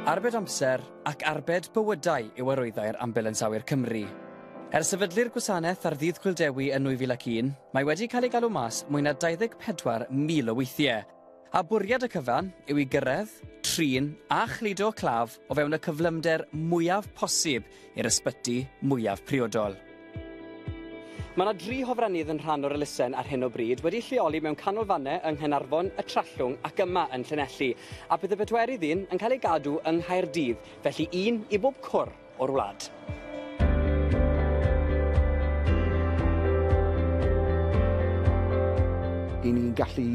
Arbed amser ac arbed bywydau yw arwyddau'r Ambulans Awyr Cymru. Er sefydlu'r gwasanaeth ar ddydd Gwyl Dewi yn 2001, mae wedi cael ei galw mas mwy na 24,000 o weithiau, a bwriad y cyfan yw i gyrraedd, trin a chludo claf o fewn y cyflymder mwyaf posib i'r ysbyty mwyaf priodol. Mae yna dri hofrennydd yn rhan o'r elusen ar hyn o bryd, wedi'u lleoli mewn canolfannau yng Nghaernarfon, y Trallwng ac yma yn Llanelli, a bydd y pedwerydd un yn cael ei gadw yng Nghaerdydd, felly un i bob cwr o'r wlad. i ni'n gallu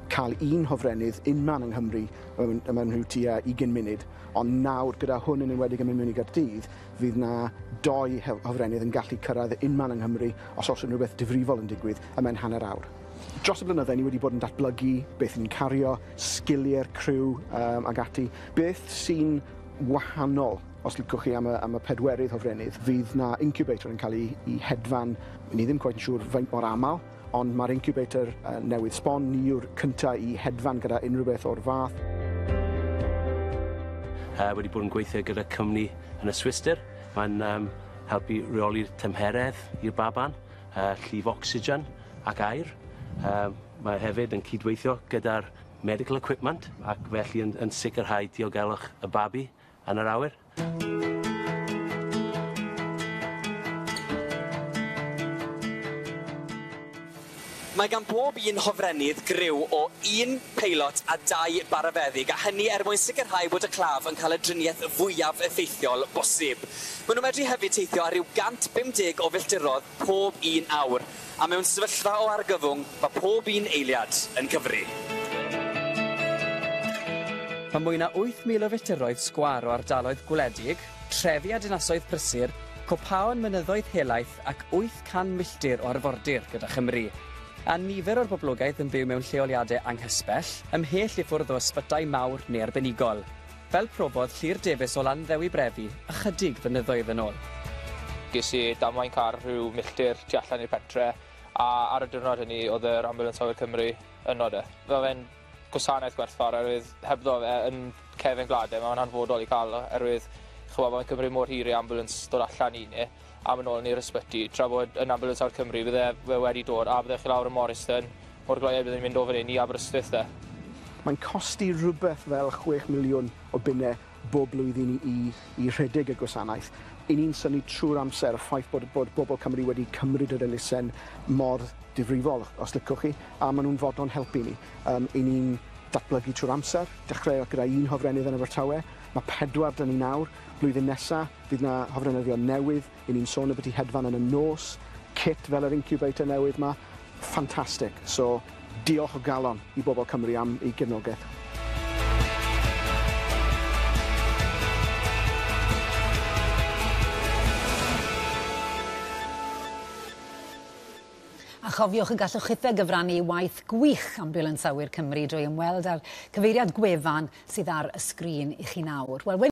cael un hofrennydd unman yng Nghymru mewn, mewn rhyw tua ugain munud. Ond nawr, gyda hwn yn enwedig yn mynd mewn i Gaerdydd, fydd 'na dou hofrennydd yn gallu cyrraedd y unman yng Nghymru os oes unrhyw beth difrifol yn digwydd y mewn hanner awr. Dros y blynydde, ni wedi bod yn datblygu beth ni'n cario, sgilie'r criw um, ag ati. Beth sy'n wahanol os licwch chi am y, am y pedwerydd hofrennydd, fydd na incubator yn cael ei, ei hedfan, ni ddim cweit yn siŵr faint mor aml, Ond mae'r incubator newydd sbon, ni yw'r cyntaf i hedfan gyda unrhyw beth o'r fath. Uh, wedi bod yn gweithio gyda cwmni yn y Swistir. Mae'n um, helpu reoli'r tymheredd i'r baban, uh, llif ocsigen ac air. Uh, mae hefyd yn cydweithio gyda'r medical equipment ac felly yn, yn sicrhau diogelwch y babi yn yr awyr. Mae gan bob un hofrennydd griw o un peilot a dau barafeddyg, a hynny er mwyn sicrhau bod y claf yn cael y driniaeth fwyaf effeithiol bosib. Maen nhw'n medru hefyd teithio ar ryw 150 o filltiroedd pob un awr, a mewn sefyllfa o argyfwng mae pob un eiliad yn cyfri. Mae mwy na 8,000 o fetyrroedd sgwâr o ardaloedd gwledig, trefi a dinasoedd prysur, copaon, mynyddoedd helaeth ac 800 milltir o arfordir gyda Chymru. A nifer o'r boblogaeth yn byw mewn lleoliadau anghysbell, ymhell i ffwrdd o ysbytai mawr neu arbenigol. Fel profodd Llŷr Davies o Landdewi Brefi ychydig flynyddoedd yn ôl. Ges i damwain car rhyw milltir tu allan i'r pentre, a ar y diwrnod hynny oedd yr Ambiwlans Awyr Cymru yno 'de. Mae fe'n gwasanaeth gwerthfawr oherwydd hebddo fe yn cefn gwlad 'de, mae fe'n hanfodol i cael oherwydd ch'mo' mae'n cymryd mor hir i ambiwlans dod allan i ni. am yn ôl yn i'r ysbyty, tra bod yn Ambulance Awr Cymru, bydde fe wedi dod a bydde chi lawr yn Morriston, o'r gloiau bydden ni'n mynd o fan hyn i Aberystwyth de. Mae'n costi rhywbeth fel chwech miliwn o bunnau bob blwyddyn i i i rhedeg y gwasanaeth. Y'n ni'n synnu trwy'r amser y ffaith bod bod bobl Cymru wedi cymryd yr elusen mor difrifol, os licwch chi, a maen nhw'n fodlon helpu ni. Yym, y'n ni'n datblygu trwy'r amser, dechreuodd gyda un hofrennydd yn Abertawe, mae pedwar 'da ni nawr, blwyddyn nesa, Bydd 'na hofrenyddion newydd, 'yn ni'n sôn ambyti hedfan yn y nos, cit fel yr incubator newydd 'ma, ffantastig. So, diolch o galon i bobl Cymru am eu cefnogaeth. A chofiwch y gallwch chithau gyfrannu i waith gwych Ambiwlans Awyr Cymru drwy ymweld â'r cyfeiriad gwefan sydd ar y sgrin i chi nawr. Wel,